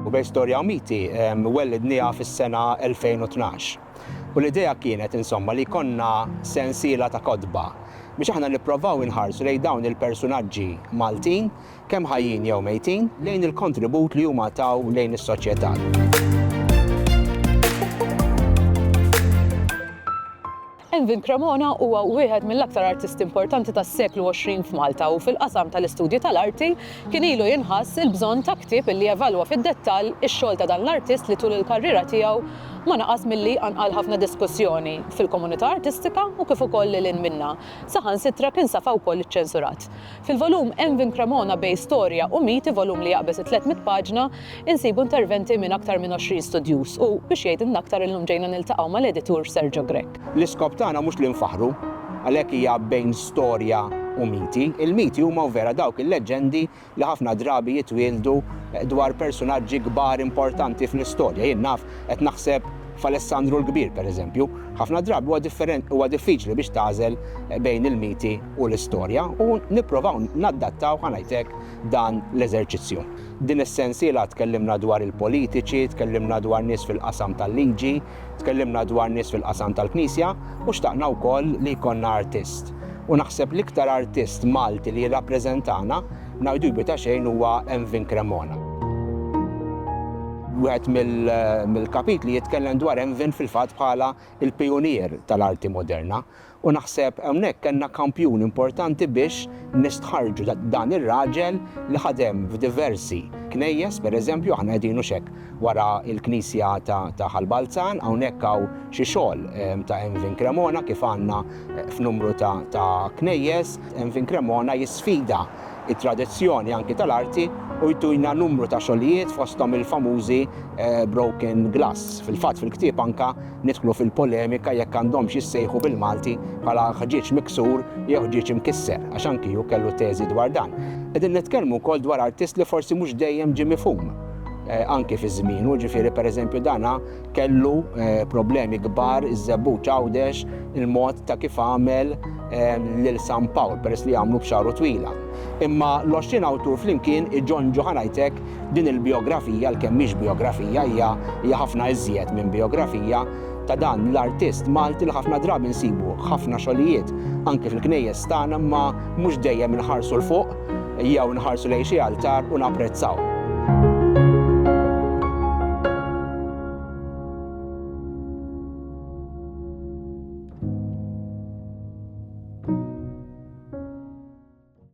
U bejn storja u miti, wellidniha fis-sena 2012. U l-idea kienet, insomma, li jkollna sensiela ta' kotba biex aħna nipprovaw inħarsu lejn dawn il-persunaġġi Maltin, kemm ħajjin jew mejtin, lejn il-kontribut li huma taw lejn is-soċjetà. Envin Cremona huwa wieħed mill-aktar artisti importanti tas-seklu għoxrin f'Malta u fil-qasam tal-istudji tal-arti kien ilu jinħass il-bżonn ta' ktieb li jevalwa fid-dettall ix-xogħol ta' dan l-artist li tul il-karriera tiegħu ma naqas milli qanqal ħafna diskussjoni fil-komunità artistika u kif ukoll lil hinn minnha. Saħansitra kien safa wkoll iċċensurat. Fil-volum Envin Cremona bejn storja u miti, volum li jaqbeż it-tliet mitt paġna, insibu interventi minn aktar minn għoxrin studjuż u, biex jgħidilna aktar, illum ġejna niltaqgħu mal-editur Sergio Grech. L-iskop tagħna mhux li nfaħħru, għalhekk hija bejn storja u miti. Il-miti huma u vera dawk il-leġġendi li ħafna drabi jitwieldu dwar persunaġġi kbar importanti fl-istorja. Jien naf qed naħseb f'Alessandru l-Kbir, pereżempju. Ħafna drabi huwa differen, huwa diffiċli biex tagħżel bejn il-miti u l-istorja u nipprovaw naddattaw, ħa ngħid hekk, dan l-eżerċizzju. Din is-sensiela tkellimna dwar il-politiċi, tkellimna dwar nies fil-qasam tal-liġi, tkellimna dwar nies fil-qasam tal-Knisja u xtaqna wkoll li jkollna artist. U naħseb l-iktar artist Malti li jirrappreżentana, ngħidu jbi ta' xejn huwa Envin Cremona. Wieħed mill-kapitli jitkellem dwar Envin fil-fatt bħala l-pijunier tal-arti moderna U naħseb hawnhekk kellna kampjun importanti biex nistħarrġu dan ir-raġel li ħadem f'diversi knejjes, pereżempju aħna qegħdin hux hekk wara l-knisja ta' Ħal Balzan, hawnhekk hawn xi xogħol ta' Envin Cremona kif għandna f'numru ta' knejjes. Envin Cremona jisfida t-tradizzjoni anki tal-arti u jtina numru ta' xogħlijiet fosthom il-famużi Broken Glass. Fil-fatt fil-ktieb anke Nidħlu fil-polemika jekk għandhomx jissejħu bil-Malti bħala ħġieġ miksur jew ħġieġ imkisser, għax anki hu kellu teżi dwar dan. Qegħdin nitkellmu wkoll dwar artist li forsi mhux dejjem ġie mifhum anki fi żmienu, ġifieri pereżempju dana kellu problemi kbar iż-Żebbuġ Għawdex il-mod ta' kif għamel lil San Pawl peress li għamlu b'xagħru twila. Imma l-20 awtur flimkien iġonġu ħa ngħidlek Din il-bijografija, għalkemm mhix bijografija, hija hija ħafna iżjed minn bijografija, ta' dan l-artist Malti li ħafna drabi nsibu ħafna xogħlijiet anki fil-knejjes tagħna imma mhux dejjem inħarsu 'l fuq jew inħarsu lejn xi altar u napprezzaw.